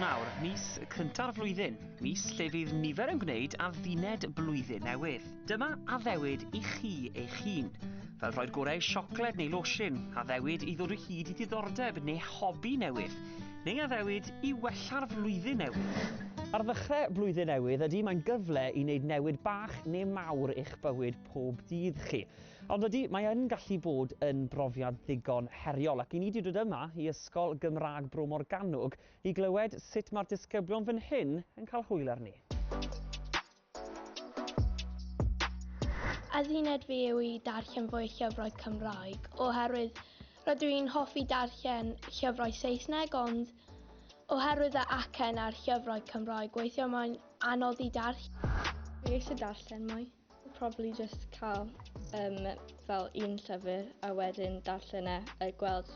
Ionawr, mis cynta'r flwyddyn, mis lle fydd nifer yn gwneud adduned blwyddyn newydd. Dyma addewid i chi eich hun, fel rhoi'r gorau siocled neu losin, addewid i ddod o hyd i ddiddordeb neu hobi newydd, neu addewid i wella'r flwyddyn newydd. Ar ddechrau blwyddyn newydd, ydy, mae'n gyfle i wneud newid bach neu mawr i'ch bywyd pob dydd chi. Ond ydy, mae yn gallu bod yn brofiad ddigon heriol, ac i ni 'di dod yma i Ysgol Gymraeg Bro Morgannwg i glywed sut mae'r disgyblion fan hyn yn cael hwyl arni. Adduned fi yw i darllen fwy o llyfrau Cymraeg, oherwydd rydw i'n hoffi darllen llyfrau Saesneg, ond oherwydd y acen a'r llyfrau Cymraeg, weithiau mae'n anodd i darllen. Dwi eisiau darllen mwy. Probably just cael um, fel un llyfr a wedyn darllen e a gweld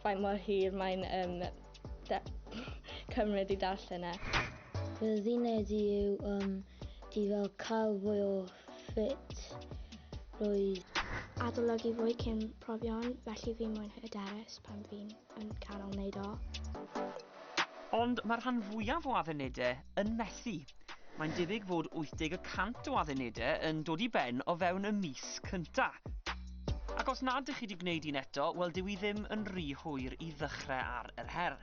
faint mor hir mae'n um, cymryd i darllen e. Fy ddined i yw um, di fel cael fwy o ffit roedd. Adolygu fwy cyn profion, felly fi mwyn hyderus pan fi'n Yn canol wneud o. Ond mae'r rhan fwyaf o addunedau yn methu. Mae'n debyg fod 80 y cant o addunedau yn dod i ben o fewn y mis cynta. Ac os nad ych chi wedi gwneud un eto, wel dyw i ddim yn rhy hwyr i ddechrau ar yr her.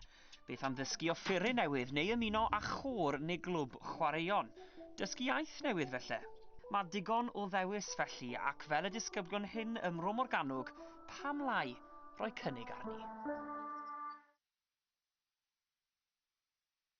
Beth am ddysgu offeryn newydd neu ymuno â chôr neu glwb chwaraeon? Dysgu iaith newydd felly? Mae digon o ddewis felly, ac fel y disgyblion hyn ym Mro Morgannwg, pam lai? roi cynnig arni.